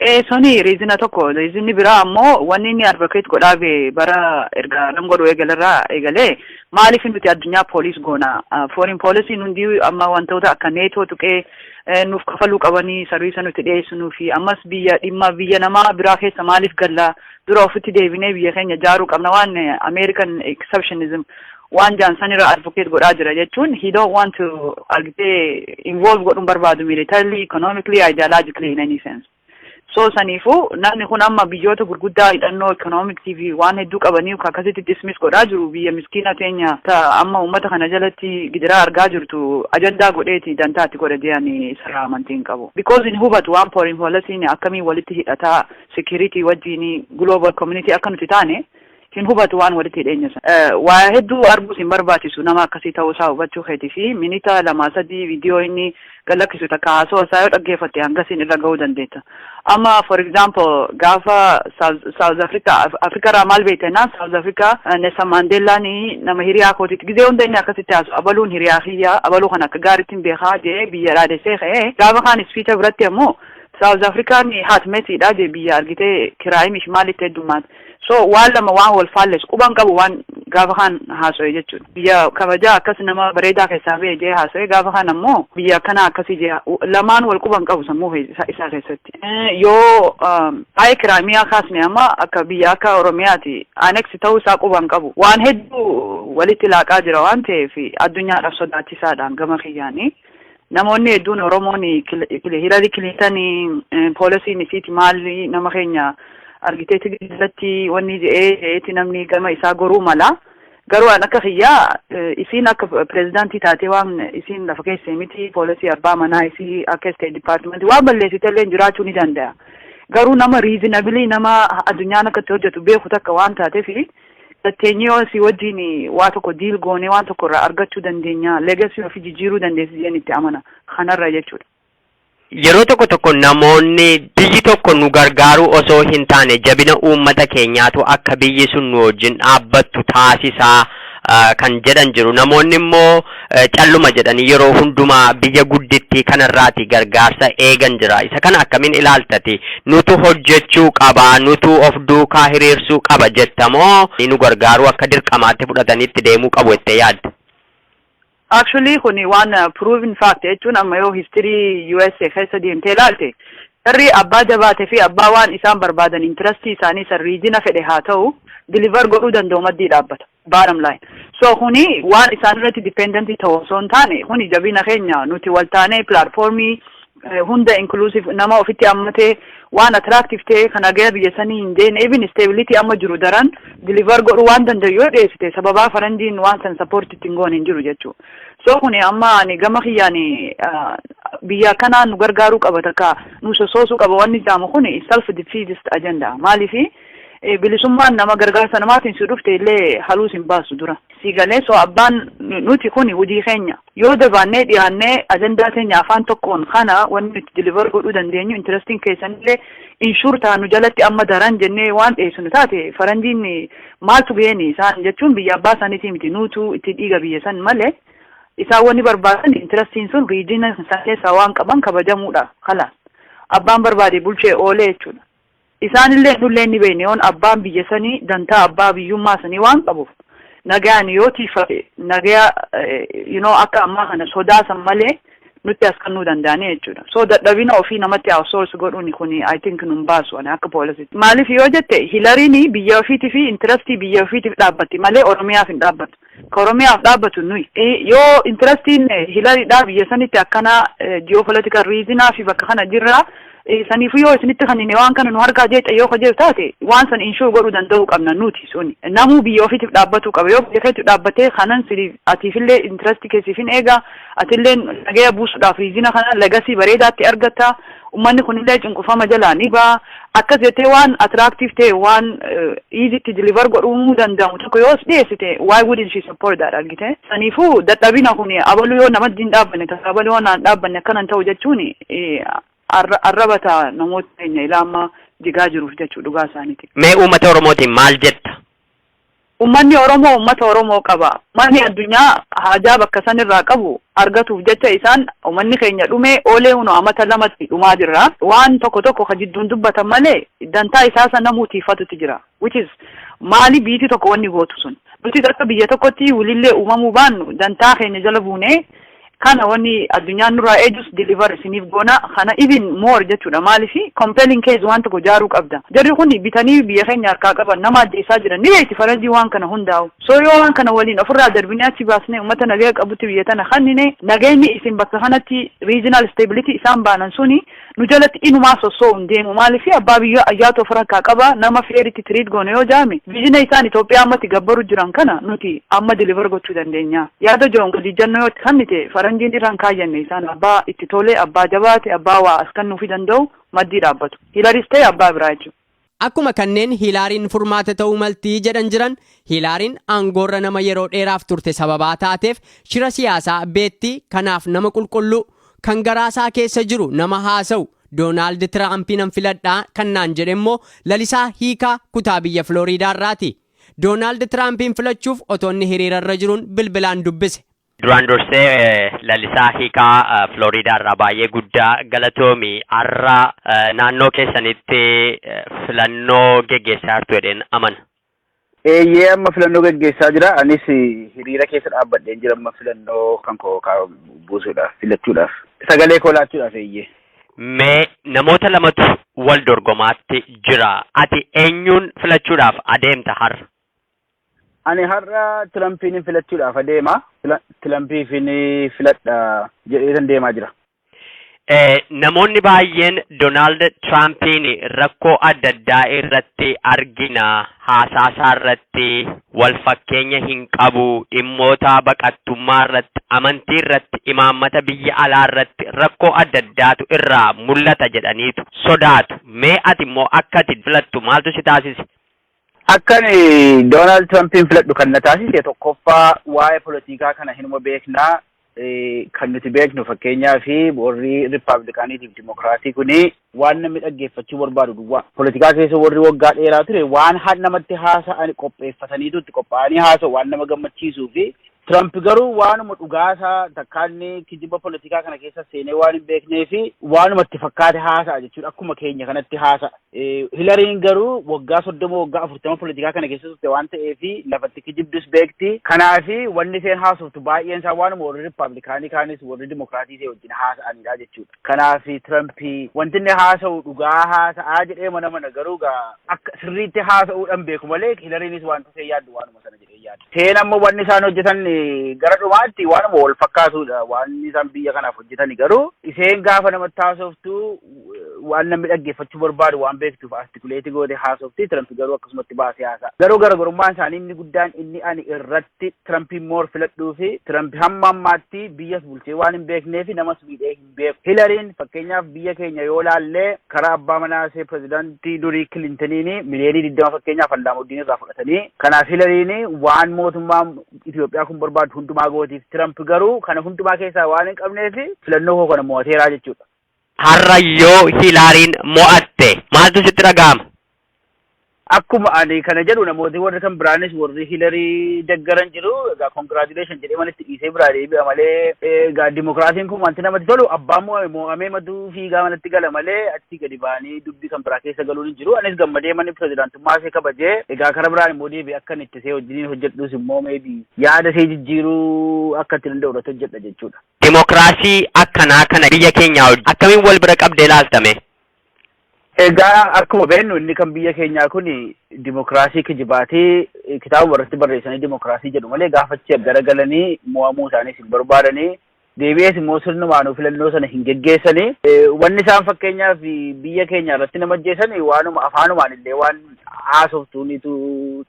Ee suni riizina tokko riizinni biraa ammoo wanni inni advocate godhaa bee bara erga nam godhu eegalerraa eegalee maaliif nuti addunyaa pooliis goona foreign policy hundi amma wantoota akka neetoo tuqee eh, nuuf kafaluu qabanii sarviisa nuti dhiyeessinuu fi ammas biyya dhimma biyya namaa biraa keessa maaliif galla dura ofitti deebinee biyya keenya jaaruu qabna waan eh, American exceptionism waan jaan sanirra advocate godhaa jira jechuun he don't want to argitee involve godhuun barbaadu militarily economically ideologically in any sense so saniifuu namni kun amma biyyoota gurguddaa hidhannoo economicsii fi waan hedduu qabanii akkasitti dismiss godhaa jiru biyya miskiina teenya ta amma uummata kana jalatti gidiraa argaa jirtu ajandaa godheeti dantaatti godhe dee'ani sarara amantii hin qabu because hin hubatu waan foreign policy akkamiin walitti hidhataa security wajjiin global community akka nuti taane Hin hubatu waan walitti hidheenya san. Waa hedduu arguu sin barbaachisu nama akkasii ta'uu isaa hubachuu keetii fi minita lamaa sadii viidiyoo inni gad lakkisu takka haasawa isaa yoo dhaggeeffatte hangasiin irra ga'uu dandeetta. Amma for example gaafa South Africa Africa irraa maal beekta jennaan South Africa Nelson Mandeellaan nama hiriyaa kootiitti gizee hunda inni akkasitti haasu abaluun hiriyaa kiyya abaluu kana akka gaariitti hin beekaa jee biyya dhaadessee ka'ee gaafa kaan ispiicha biratti ammoo South African haatmetiidha jee biyya argitee kiraayimish maalitti heddummaate. So waan lama waan wal faallesu quban qabu waan gaafa kaan haaso'e jechuudha. Biyya kabajaa akkas nama bareedaa keessaa ba'e jee haaso'e gaafa kaan ammoo biyya akkanaa akkasii jee lamaan wal quban qabu sammuu isaa keessatti. Yoo waa'ee kiraamiyaa kaasne amma akka biyya akka Oromiyaati aneksi ta'uu isaa quban qabu. Waan hedduu walitti laaqaa jira waan ta'eef addunyaadhaaf sodaachisaadhaan gama kiyyaanii. Namoonni hedduun Oromoon Hilarii Kiliintan poolisiin isiiti maali nama keenya argitee tigii irratti wanni je'ee je'eeti namni gama isaa goruu mala. Garuu an akka kiyyaa isiin akka pireezidaantii taatee waan isiin lafa keessee miti poolisii abbaa manaa isii akka isteet dipaartimentii waan balleessite illee jiraachuu ni danda'a. Garuu nama riizinabilii nama addunyaan akka itti hojjetu beeku takka waan taateefi Teenyee asii wajjin waa tokko diil goonee waan tokko irraa argachuu dandeenya, legacy ofii jijjiiruu dandeessi jedheen itti amana. Kanarra jechuudha. Yeroo tokko tokko namoonni biyyi tokko nu gargaaruu osoo hin taane jabina uummata keenyaatu akka biyyi sun nu wajjin dhaabbattu taasisa kan jedhan jiru. Namoonni immoo calluma jedhanii yeroo hundumaa biyya guddittii kanarraati gargaarsa eegan jira. Isa kana akkamiin ilaaltati? Nutu hojjechuu qaba, nutu of duukaa hiriirsuu qaba jetta moo nu gargaaruu akka dirqamaatti fudhatanii itti deemuu qabu jettee yaadda? Actually kuni waan proven fact jechuun amma yoo history USA keessa deemtee ilaalte jarri abbaa jabaate fi abbaa waan isaan barbaadan intirastii isaanii san riijina fedhe haa ta'u deliver godhuu danda'u maddii dhaabbata. bottom line so kuni waan isaan irratti dependent ta'u osoo hin taane kuni jabina keenya nuti wal taanee platformii eh, hunda inclusive nama ofitti hammatee waan attractive ta'e kan hagaya biyya sanii hin deene even stability amma jiru daran deliver godhu waan danda'u yoo dhiyeessite sababaa faranjiin waan san support ittiin goon hin jiru jechuu so kuni amma ani gama kiyyaani ah, biyya kanaa nu gargaaruu qaba takka nu sosoosuu qaba wanni jaamu kuni self defeatist agenda maaliifi Bilisummaan nama gargaarsa namaatiin si dhufte illee haluu sin baasu dura. Sii galee so abbaan nuti kuni hojii keenya yoo dabaannee dhiyaannee ajandaa teenya afaan tokkoon kana wanni nuti deliver godhuu dandeenyu interesting keessan illee inshuur ta'a nu jalatti amma daran jennee waan dhiyeessinu taate faranjiin maaltu ga'een isaan jechuun biyya abbaa isaaniitii miti nuutu itti dhiiga biyya san malee isaan wanni barbaadan interestiin sun riijina san keessaa waan qaban kabajamuudha kalaas abbaan barbaade bulchee oolee jechuudha. Isaanillee nullee hin beenne yoon abbaan biyya sanii dantaa abbaa biyyummaa sanii waan qabuuf nagayaan yoo tiiffate nagaya you know akka ammaa kana sodaa san malee nutti as kannuu danda'anii jechuudha. So dadhabina ofii namatti outsource godhuun kuni I think nun baasu ani akka poolisitti. Maaliif yoo jette Hilariin biyya ofiitii fi intirastii biyya ofiitiif dhaabbatti malee Oromiyaaf hin dhaabbattu. ka Oromiyaaf dhaabbatu nuyi. Yoo interastiin Hilaridhaa biyya sanitti akkana geopolitical reason fi bakka kana jirra saniifuu yoo isinitti kannine waan kana nu harkaa jeexa yoo ka jedhu taate waan san inshuur godhuu danda'uu qabna nuti suni. Namuu biyya ofiitiif dhaabbatuu qaba yoo biyya keetu dhaabbatee kanan siliif atiifillee interastii keessiif hin eega atilleen nagaya buusuudhaaf riizina kana lagasii bareedaatti argatta. Ummanni kunillee cunqurfama jalaa ni baha. Akkas jettee waan attractive ta'e, waan easy itti deliver godhuu danda'amu tokko yoo si dhiyeessite, why wouldn't she support that argite? Saniifuu dadhabina kuni abalu yoo namatti hin dhaabbanne takka abalu yoo naan dhaabbanne akkana hin ta'u jechuuni arraba ta'a namoota keenya ilaa ammaa jigaa jiruuf jechuu dhugaa isaaniiti. Mee uummata Oromootiin maal jetta? Ummanni Oromoo ummata Oromoo qaba. Ummanni addunyaa haajaa bakka san irraa qabu argatuuf jecha isaan ummanni keenya dhumee oolee huno amata lamatti dhumaa jirra. Waan tokko tokko ka jidduun dubbatan malee dantaa isaa san namuu tiiffatutti jira. Which is maali biiti tokko wanni gootu sun. Nutis akka biyya tokkotti wlillee uumamuu baannu dantaa keenya jala buunee Kana wani addunyaan nurraa eejus deliver isiniif goona kana even more jechuudha maaliif compelling case waan tokko jaaruu qabda jarri kuni bitanii biyya keenya harkaa qaban nama ajjeessaa jiran ni beekti faranjii waan kana hundaawu so yoo waan kana waliin ofirraa darbinee achi baasnee ummata nagaya qabutti biyya tana kannine nageenyi isin bakka kanatti regional stability isaan baanan suni nu jalatti inumaa sosso'u hin deemu maaliif abbaa biyyaa ayyaatu of rakkaa qaba nama fair itti treat goone yoo jaame vision isaan Ethiopia amma itti gabbaru jiran kana nuti amma deliver gochuu dandeenya yaada joon gadi ijjannoo yoo itti kannite faranjiin irra hin kaayyanne isaan abbaa itti tole abbaa jabaate abbaa waa as kannuufi danda'u maddii dhaabbatu hilaris ta'e abbaa biraa jechuudha. Akkuma kanneen Hiilaariin furmaata ta'uu malti jedhan jiran, Hiilaariin aangoorra nama yeroo dheeraaf turte sababaa taateef shira siyaasaa beekti, kanaaf nama qulqulluu, kan garaasaa keessa jiru nama haasa'u, Doonaald Tiraampiinan filadha kan naan jedhe immoo Lalisaa Hiikaa kutaa biyya Filooriidaarraati. Doonaald Tiraampiin filachuuf otoo inni hiriirarra jiruun bilbilaan dubbise. Duraan dursee Lalisaa hiikaa Florida irraa baay'ee guddaa galatoomi. Har'a naannoo keessanitti filannoo geggeessaa jirtu jedheen amana. Eeyyee amma filannoo geggeessaa jira. Anis hiriira keessa dhaabbadheen jira amma filannoo kan koo buusuudhaaf filachuudhaaf. Sagalee koo laachuudhaaf eeyyee. Mee namoota lamatu wal dorgomaatti jira. Ati eenyuun filachuudhaaf adeemta har'a? Ani har'a Tirampiin filachuudhaaf adeema. Tirampiif filadha jedheetan deemaa jira. Namoonni baay'een Doonaald Tiraampiin rakkoo adda addaa irratti argina. Haasaa isaa irratti wal fakkeenya hin qabu. Dhimmoota baqattummaa irratti, amantii irratti, imaammata biyya alaa irratti rakkoo adda addaatu irraa mul'ata jedhaniitu sodaatu. Mee ati immoo akka ati filattu maaltu si taasise? Akkan Doonaald Tiraampiin filadhu kan na taasise tokkoffaa waa'ee polotikaa kana hinuma beeknaa kan nuti beeknu fakkeenyaa fi warri Rippaabilikaaniitiif Dimokiraatii kuni waan namni dhaggeeffachuu barbaadu duwwaa. Polotikaa keessa warri waggaa dheeraa ture waan namatti haasa'an qopheeffataniitu itti qophaa'anii haasa'u waan nama gammachiisuu fi Tiraamp garuu waanuma dhugaasaa takkaa inni kijiba politikaa kana keessa seenee waan hin beeknee fi waanuma itti fakkaate haasa'a jechuudha. Akkuma keenya kanatti haasa'a. Hilariin garuu waggaa soddoma waggaa afurtama politikaa kana keessa turte waan ta'eef lafatti kijibdus beekti. Kanaaf wanni isheen haasoftu baay'een isaa waanuma warri riippaabilikaanii kaanis warri dimokiraatii ishee wajjin haasa'anidha jechuudha. Kanaaf Tiraamp wanti inni haasa'u dhugaa haasa'aa jedhee mana mana garuu akka sirriitti haasa'uudhaan beeku malee Hilariinis wanta isheen yaaddu waanuma. sana jedhee yaada. Seen ammoo wanni isaan hojjetan gara dhumaatti waanuma wal fakkaatudha. Waanni isaan biyya kanaaf hojjetan garuu iseen gaafa namatti haasoftu waan namni dhaggeeffachuu barbaadu waan beektuuf artikuleetii goote haasofti Tirampi garuu akkasumatti baasee haasa'a. Garuu garaagarummaan isaanii inni guddaan inni ani irratti Tirampiin moor filadhuu fi Tirampi hamma ammaatti biyyas bulchee waan hin beekneef namas miidhee beeku. Hilariin fakkeenyaaf biyya keenya yoo laallee karaa abbaa manaa ishee pirezidaantii durii Kilintiniin miliyoonii digdama fakkeenyaaf Allaamuddiin irraa fudhatanii kanaaf Hilariin waan mootummaa Itoophiyaa kun barbaadu hundumaa gootiif Tiramp garuu kana hundumaa keessaa waan hin qabneef filannoo koo kana mo'ateeraa jechuudha. Har'a yoo Hilaariin mo'atte maaltu sitti dhaga'ama? akkuma ani kana jedhu namooti warri kan biraanis warri hilarii deggaran jiru egaa congratulation jedhee manitti dhiisee biraa deebi'a malee egaa dimokiraasiin kun wanti namatti tolu abbaan mo'ame mo'amee matuu fiigaa manatti gala malee achi gadi ba'anii dubbii kan biraa keessa galuun hin jiru anis gammadee manni pirezidaantummaa ishee kabajee egaa kara biraan immoo deebi'e akka itti see wajjiniin hojjedhus immoo meebi yaada ishee jijjiiruu akka itti danda'u irratti hojjedha jechuudha. Dimokiraasii akkanaa kana biyya keenyaa wajjin akkamiin wal bira qabdee ilaaltame? Egaa akkuma beeknu inni kan biyya keenyaa kun dimokiraasii kijibaatee kitaaba irratti barreessanii dimokiraasii jedhu malee gaafachi gara galanii mo'amuu isaaniis hin barbaadanii deebi'ees immoo sirnumaanuu filannoo sana hin geggeessanii wanni isaan fakkeenyaaf biyya keenya irratti nama ajjeesan waanuma afaanumaan illee waan haasoftuunitu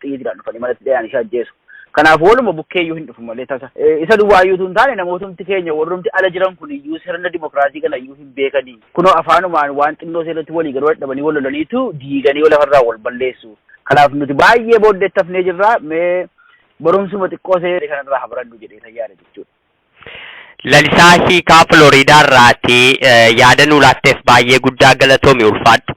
xiyyiidhaan dhufanii manatti dhiyaan ishee ajjeesu. Kanaaf waluma bukkeeyyuu hin dhufu malee tasa. Isa duwwaayyuutu hin taane namootumti keenya warrumti ala jiran kun iyyuu sirna dimokiraasii kana iyyuu hin beekanii. Kunoo afaanumaan waan xinnoo ishee irratti walii galuu dadhabanii wal lolaniitu diiganii yoo lafarraa wal balleessu. Kanaaf nuti baay'ee booddee itti hafnee jirra mee barumsuma xiqqoo ishee kanarraa haa barannu jedhee isa yaada jechuudha. Lalisaa Hiikaa Filooriidaa irraati yaada nuu laatteef baay'ee guddaa galatoomi ulfaadhu.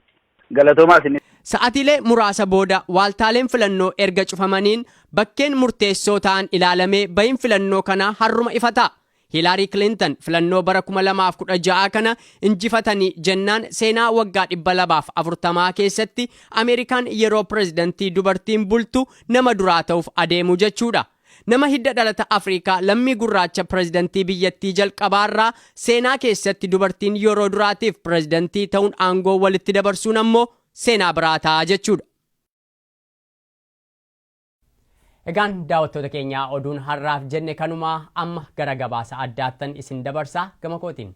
Galatoomaa isinis. Sa'atiilee muraasa booda waaltaaleen filannoo erga cufamaniin bakkeen murteessoo ta'an ilaalamee bahiin filannoo kanaa harruma ifa ta'a. Hiilaarii Kilintan filannoo bara 2016 kana injifatanii jennaan seenaa waggaa 240 keessatti Ameerikaan yeroo pirezidantii dubartiin bultu nama duraa ta'uuf adeemu jechuudha. Nama hidda dhalata Afriikaa lammii gurraacha pirezidantii biyyattii jalqabaarraa seenaa keessatti dubartiin yeroo duraatiif pirezidantii ta'uun aangoo walitti dabarsuun ammoo seenaa biraa ta'a jechuudha. Egaan daawwattoota keenyaa oduun har'aaf jenne kanuma amma gara gabaasa addaattan isin dabarsaa gama kootiin.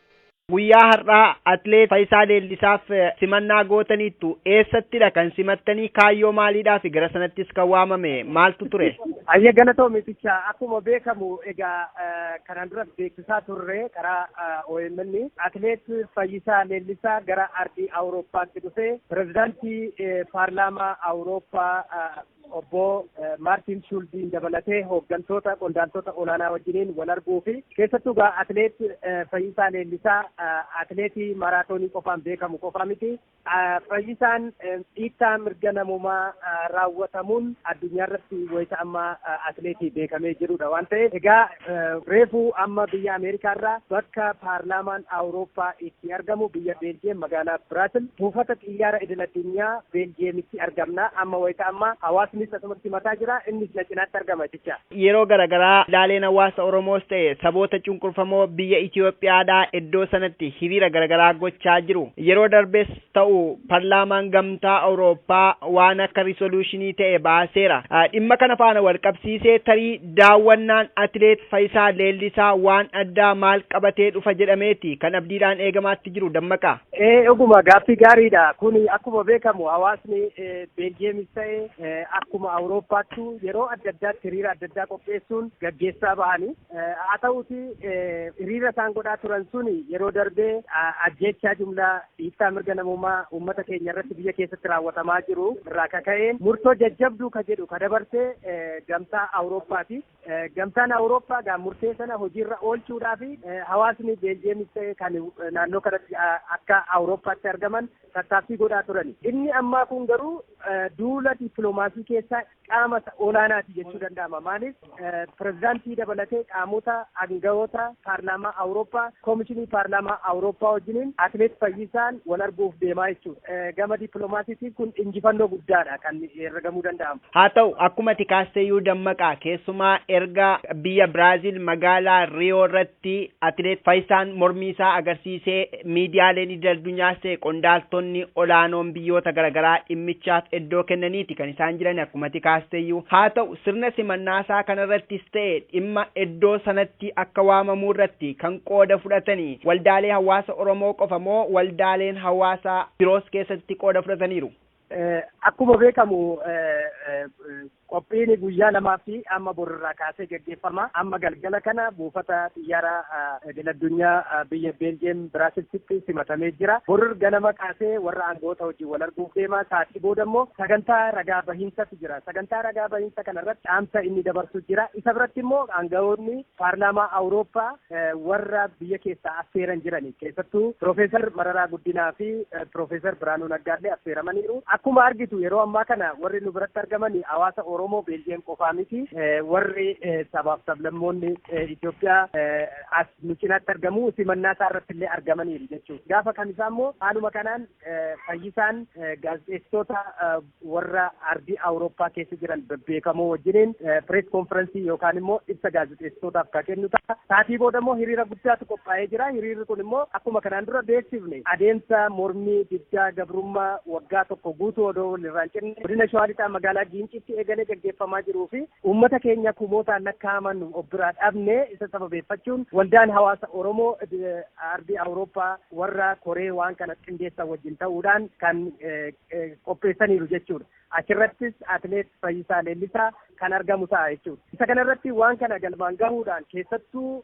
Guyyaa har'aa Atleet Fayisaa Leellisaaf simannaa gootaniittu. Eessattidha kan simattanii? Kaayyoo maaliidhaafi gara sanattis kan waamame maaltu ture? Hayyee galatoomi Ticha. Akkuma beekamu egaa kanaan duras beeksisaa turre karaa omn Atleet Fayyisaa Leellisaa gara ardii Awurooppaatti dhufee pirezidaantii paarlaamaa Awurooppaa Obbo Maartiin Shuuldiin dabalatee hooggantoota qondaaltota olaanaa wajjiniin wal arguu fi keessattuu egaa atileet Fayyisaa Leellisaa atileetii maaraatoonii qofaan beekamu qofaa miti. Fayyisaan dhiittaa mirga namoomaa raawwatamuun addunyaa irratti wayita ammaa atileetii beekamee jirudha waan ta'eef egaa Reefu amma biyya Ameerikaa irraa bakka paarlaamaan Awurooppaa itti argamu biyya Beeljiyeem magaalaa Biraasil buufata xiyyaara idil addunyaa Beeljiyeemitti argamna. Amma wayita ammaa hawaasnis asumatti simataa jira. Innis na cinaatti argama jecha. Yeroo garagaraa ilaaleen hawaasa Oromoos ta'e saboota cunqurfamoo biyya Itoophiyaadhaa iddoo sanatti hiriira garagaraa gochaa jiru. Yeroo darbes. ta'u parlaamaan gamtaa Awurooppaa waan akka risoluushinii ta'e baaseera. Dhimma kana faana walqabsiisee tarii daawwannaan atileet Fayisaa Leellisaa waan addaa maal qabatee dhufa jedhameeti kan abdiidhaan eegamaatti jiru Dammaqaa. Ee dhuguma gaaffii gaariidha. Kun akkuma beekamu hawaasni Beeljiyeemis ta'e akkuma Awurooppaattu yeroo adda addaatti hiriira adda addaa qopheessuun gaggeessaa bahani. Haa ta'uuti hiriira isaan godhaa turan sun yeroo darbee ajjeechaa jumlaa Dhiittaa mirga namoomaa uummata keenya irratti biyya keessatti raawwatamaa jiru irraa ka ka'een murtoo jajjabduu ka jedhu ka dabarse gamtaa Awurooppaati. Gamtaan Awurooppaa gaa murtee sana hojiirra oolchuudhaa fi hawaasni Beeljiyeemis ta'e kan naannoo kanatti akka Awurooppaatti argaman tattaaffii godhaa turani. Inni ammaa kun garuu duula dippiloomaasii keessaa qaama olaanaati jechuu danda'ama. Maaliif pirezidaantii dabalatee qaamota aangawoota paarlaamaa Awurooppaa, koomishinii paarlaamaa Awurooppaa wajjiniin atileet Fayyisaan wal arguuf deemaa jechuudha. Gama dippiloomaasiitiin kun injifannoo guddaadha kan herregamuu danda'amu. Haa ta'u akkuma ati kaasteyyuu Dammaqaa keessumaa erga biyya Biraaziil magaalaa Riyoo irratti irratti Atileet Fayisaan mormii isaa agarsiisee miidiyaaleen idil addunyaas ta'e qondaaltonni olaanoon biyyoota garagaraa dhimmichaaf eddoo kennaniiti kan isaan jiran akkuma ati kaasteyyuu. Haa ta'u sirna simannaa isaa kana irrattis ta'e dhimma eddoo sanatti akka waamamuu irratti kan qooda fudhatani waldaalee hawaasa Oromoo qofa moo waldaaleen hawaasa biroos keessatti qooda fudhataniiru? Akkuma beekamu qophiin guyyaa lamaa fi amma borirraa kaasee gaggeeffama. Amma galgala kana buufata xiyyaara idil addunyaa biyya Beeljiyeem Biraasilsitti simatamee jira. Borir ganama kaasee warra aangoota wajjin wal arguuf deema. Sa'aatii booda immoo sagantaa ragaa bahiinsatu jira. Sagantaa ragaa bahiinsa kanarratti dhaamsa inni dabarsu jira. Isa biratti immoo aangawoonni paarlaamaa Awurooppaa warra biyya keessaa affeeran jirani. Keessattuu Piroofeesar Mararaa Guddinaa fi Piroofeesar Birhaanuu Naggaallee affeeramaniiru. Akkuma argitu yeroo ammaa kana warri nu biratti argaman hawaasa Oromoo Beeljiyeem qofaa miti. Warri sabaaf sablammoonni Itoophiyaa as nu cinaatti argamu simannaa isaa irratti illee argamaniiru jechuudha. Gaafa kamisaa immoo haaluma kanaan fayyisaan gaazexeessitoota warra ardii Awurooppaa keessa jiran bebbeekamoo wajjiniin pirees konfiransii yookaan immoo ibsa gaazexeessitootaaf ka kennu ta'a. Saatii booda immoo hiriira guddaatu qophaa'ee jira. Hiriirri kun immoo akkuma kanaan dura beeksifne adeemsa mormii diddaa gabrummaa waggaa tokko guutuu odoo walirraan cinne godina Shawaa Lixaa magaalaa Giinciitti eegalee gaggeeffamaa jiruu fi uummata keenya kumootaan lakkaa'aman of biraa dhabne isa sababeeffachuun waldaan hawaasa Oromoo ardii Awurooppaa warra koree waan kana qindeessan wajjin ta'uudhaan kan qopheessaniiru jechuudha. Achirrattis atileet Fayyisaa Leellisaa kan argamu ta'a jechuudha. Isa kanarratti waan kana galmaan gahuudhaan keessattuu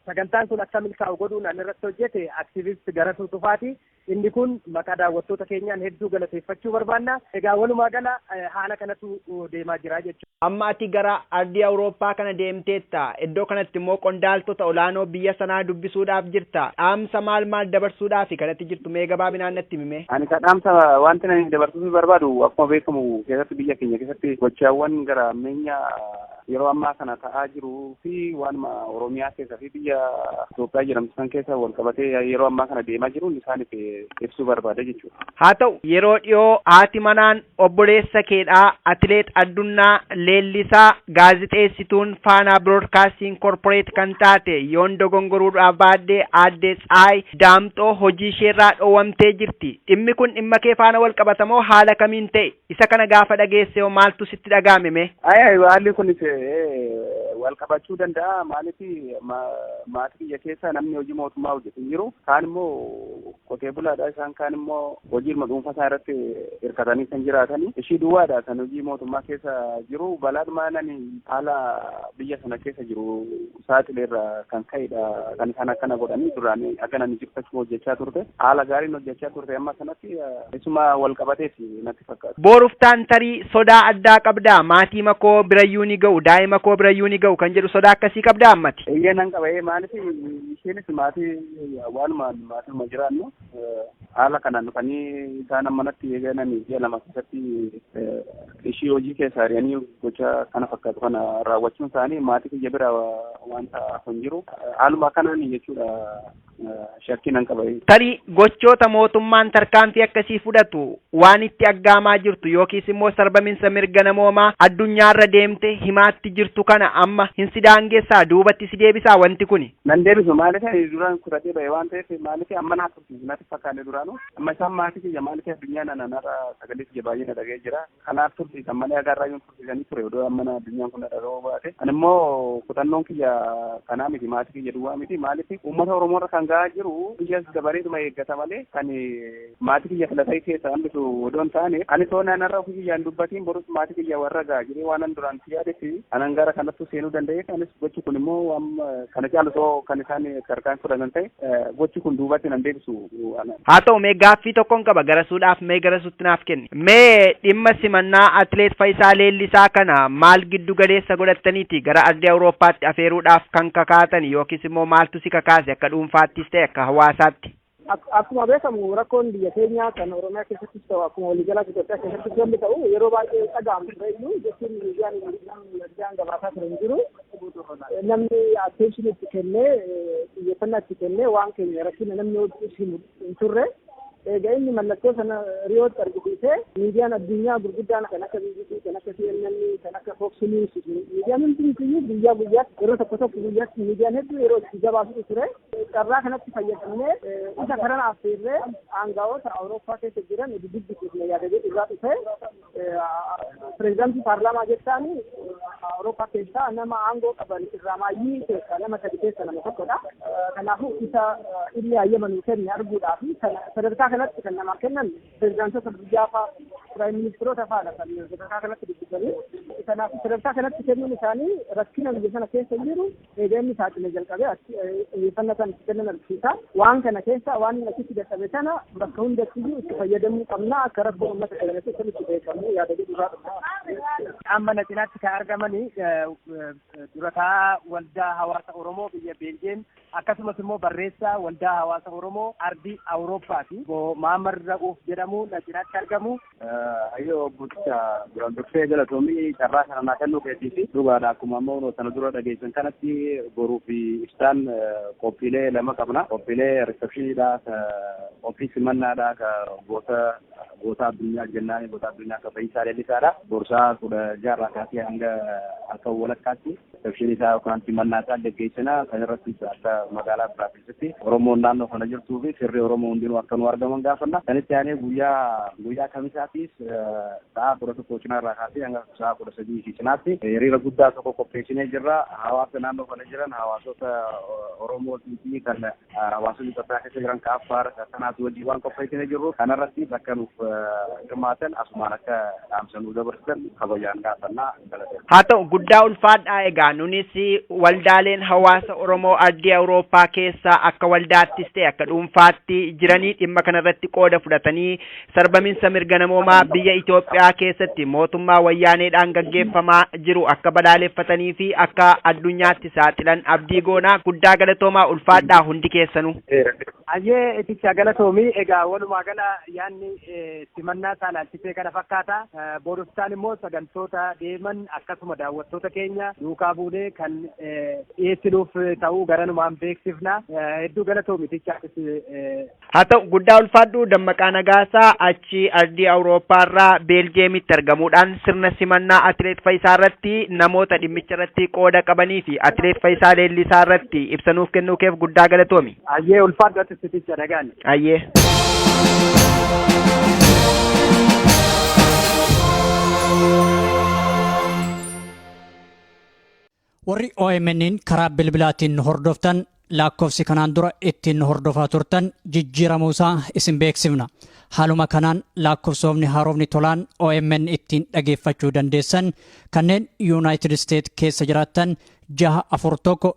sagantaan kun akka milkaa'u godhuun an irratti hojjete aktiivist Garatuu Tufaati. Inni kun maqaa daawwattoota keenyaan hedduu galateeffachuu barbaanna. Egaa walumaa gala haala kanatu deemaa jira jechuudha. Amma ati gara ardii Awurooppaa kana deemteetta. Iddoo kanatti immoo qondaaltota olaanoo biyya sanaa dubbisuudhaaf jirta. Dhaamsa maal maal dabarsuudhaafi kan ati jirtu mee gabaabinaan natti himi mee? Ani kaa dhaamsa wanti ani dabarsuufii barbaadu akkuma beekamu keessatti biyya keenya keessatti gochaawwan gara hammeenya yeroo ammaa kana ta'aa jiruu fi waanuma Oromiyaa keessa fi biyya Itoophiyaa jedhamtu san keessa wal qabatee yeroo ammaa kana deemaa jiruun isaaniif ibsuu barbaada jechuudha. Haa ta'u yeroo dhiyoo haati manaan Obboleessa keedha, Atileet Addunnaa Leellisaa, gaazixeessituun Faanaa Biroodkaastiing Korporeet kan taate, yoon dogongoruu baadhe Aadde Tsahaay Daamxoo hojiisheerraa dhoowwamtee jirti. Dhimmi kun dhimmakee faana walqabatamoo haala kamiin ta'e? Isa kana gaafa dhageessehoo maaltu sitti dhaga'ame mee? Ayi ayi haalli kunis walqabachuu danda'a. Maaliif maatii kiyya keessa namni hojii mootummaa hojjetu hin jiru. Kaan immoo Qotee bulaadha. Isaan kaan immoo hojiidhuma dhuunfaa isaan irratti hirkatanii kan jiraatani. Ishii duwwaadha kan hojii mootummaa keessa jiru. Balaadhuma nani haala biyya sana keessa jiru saaxileerra kan ka'edha kan isaan akkana godhanii duraan akka nani jirtachuma hojjechaa turte. Haala gaariin hojjechaa turte amma sanatti isuma wal qabateeti natti fakkaata. Booruftaan tarii sodaa addaa qabdaa? Maatii makoo birayyuu ni ga'u, daa'ima koo birayyuu ni ga'u kan jedhu sodaa akkasii qabdaa ammati? Eeyyee nan qaba. Ee maaliif isheenis maatii Waalumaan maatiin jiraannu haala kanaan dhufanii isaan manatti eegalanii ji'a lama keessatti ishii hojii keessaa ari'anii gocha kana fakkaatu kana raawwachuun isaanii maatii kiyya bira wanta hin jiru. Haaluma kanaan jechuudha shakkiin nan qaba. Tarii gochoota mootummaan tarkaanfii akkasii fudhatu waan itti aggaamaa jirtu yookiis immoo sarbaminsa mirga namoomaa addunyaarra deemte himaatti jirtu kana amma hin sidaangessaa duubatti si deebisaa wanti kuni. Nan deebisu maaliif ani duraan kutatee ba'e waan ta'eef maaliif amma naaf tursiisu natti fakkaanne duraanuu amma isaan maatii kiyya maaliif addunyaa nana narra sagalee kiyya baay'ee na dhaga'ee jira kanaaf tursiisan malee hagaa irraa yoon tursiisanii ture odoo amma na addunyaan kun na dhaga'uu baate ani immoo kutannoon kiyya kanaa miti maatii kiyya duwwaa miti maaliif uummata Oromoo irra kan ga'aa jiru biyyas dabareetuma eeggata malee kan Maatii kiyya filatee keessa hambisu odoo hin taane ani soo naan har'a ofii kiyyaan dubbatiin borus maatii kiyya warra ga'a jedhee waanan duraan itti yaadetti anan gara kanattuu seenuu danda'eef anis gochi kun immoo waan kana caalu soo kan isaan tarkaan fudhatan ta'e gochi kun duubatti nan deebisu. Haa ta'u mee gaaffii tokkon qaba garasuudhaaf mee garasuutti naaf kenni. Mee dhimma simannaa atileet Fayisaa Leellisaa kana maal giddu galeessa godhattaniiti gara ardii Awurooppaatti afeeruudhaaf kan kakaatan yookiis immoo maaltu si kakaase akka dhuunfaattis ta'e akka hawaasaatti? Akkuma beekamu rakkoon biyya keenyaa kan Oromiyaa keessattis ta'u akkuma waliigalaatti Itoophiyaa keessattis wanti ta'u yeroo baay'ee dhaga'amu ture iyyuu jechuun miidiyaan miidiyaan gabaasaa ture hin jiru. Namni attention itti kennee xiyyeeffannaa itti kennee waan keenya rakkina namni hojjetus hin turre. Egaa inni mallattoo sana riyootti argisiisee miidiyaan addunyaa gurguddaan kan akka BBC kan akka CNN kan akka Fox News miidiyaan hundumtiyyuu guyyaa guyyaatti yeroo tokko tokko guyyaatti miidiyaan hedduu yeroo itti gabaasutu ture. Carraa kanatti fayyadamnee isa kanan affeerree aangawoota Awurooppaa keessa jiran dubbisne yaada jedhu irraa dhufee pireezidaantii paarlaamaa jechaan Awurooppaa keessaa nama aangoo qaban irraa maayyii keessaa nama sadi keessa nama tokkodha. Kanaafuu isa inni hayyama nuu kenne arguudhaa fi sadarkaa kanatti kan namaa kennan pireezidaantota biyyaa fa'aa piraayim ministiroota fa'aadha kan sadarkaa kanatti dubbisanii. Kanaafuu sadarkaa kanatti kennuun isaanii rakkina biyya sana keessa jiru Eega inni saaxilee jalqabee achi xiyyeeffannaa isaan itti kennan argisiisa. Waan kana keessaa waan inni achitti dadhabe kana bakka hundattiyyuu itti fayyadamuu qabna akka rakkoo uummata keenya keessa nutti beekamu yaada jedhu irraa dhufna. Amma na cinaatti kan argaman dura taa'aa waldaa hawaasa Oromoo biyya Beeljeem akkasumas immoo barreessaa waldaa hawaasa Oromoo ardii Awurooppaati. Obbo Mahammad Ra'uuf jedhamu na cinaatti argamu. Hayyoo bulcha duraan dursee galatoomii carraa kana naa kennuu keetii fi dhugaadha akkuma ammoo sana dura dhageessan kanatti boruu fi ibsaan qophiilee lama qabna. Qophiilee risepshiniidha, qophii simannaadha, ka goota goota addunyaa jennaan goota addunyaa ka Fayyisaa Leellisaadha. Borsaa kudha jaarraa kaasee hanga halkan walakkaatti risepshinii isaa yookaan simannaa isaa gaggeessina. Kan irrattis akka magaalaa biraatti keessatti Oromoon naannoo kana jirtuu fi firri Oromoo hundinuu akka nu argaman gaafanna. Kan itti aanee guyyaa guyyaa kamisaatiis sa'a kudha tokko cinaa irraa kaasee hanga sa'a kudha sadii fi cinaatti hiriira guddaa tokko qopheessinee jirra. Hawaasa naannoo kana jiran hawaasota Oromoo fi kan hawaasonni Itoophiyaa keessa jiran ka Affaar kanaatu wajjin waan qopheessinee jirru kanarratti bakka nuuf hirmaatan asumaan akka dhaamsa nu dabarsan kabajaan gaafanna. Haa ta'u guddaa ulfaadhaa egaa nunis waldaaleen hawaasa Oromoo ardii Awurooppaa keessaa akka waldaattis ta'e akka dhuunfaatti jiranii dhimma kanarratti qooda fudhatanii sarbaminsa mirga namoomaa biyya Itoophiyaa keessatti mootummaa wayyaaneedhaan gaggeeffamaa jiru akka balaaleffatanii fi akka addunyaatti saaxilan abdii goonaa guddaa galatoomaa ulfaadhaa hundi keessanuu. Ayyee itti galatoomii egaa walumaa gala yaanni simannaa saalaa Ishee kana fakkaata. Boodoftaan immoo sagantoota deeman akkasuma daawwattoota keenya duukaa buunee kan dhiyeessinuuf ta'uu garanumaan beeksifna. Hedduu galatoomi tichaatis. Haa ta'u guddaa ulfaadhu Dammaqaa Nagaasaa achi ardii Awurooppaa irraa Beeljeemitti argamuudhaan sirna simannaa Atileet Fayisaa irratti namoota dhimmicha irratti qooda qabanii fi Atileet Fayisaa Leellisaa irratti ibsa nuuf kennuu keef guddaa galatoomi. Ayyee ulfaadhu atis ticha nagaan. Hayyee. Warri OMN'n karaa bilbilaatiin nu hordoftan lakkoofsi kanaan dura ittiin nu hordofaa turtan jijjiiramuu isaa isin beeksifna. Haaluma kanaan lakkoofsoofni haarofni tolaan OMN ittiin dhageeffachuu dandeessan kanneen Yuunaayitid Isteet keessa jiraattan jaha afur tokko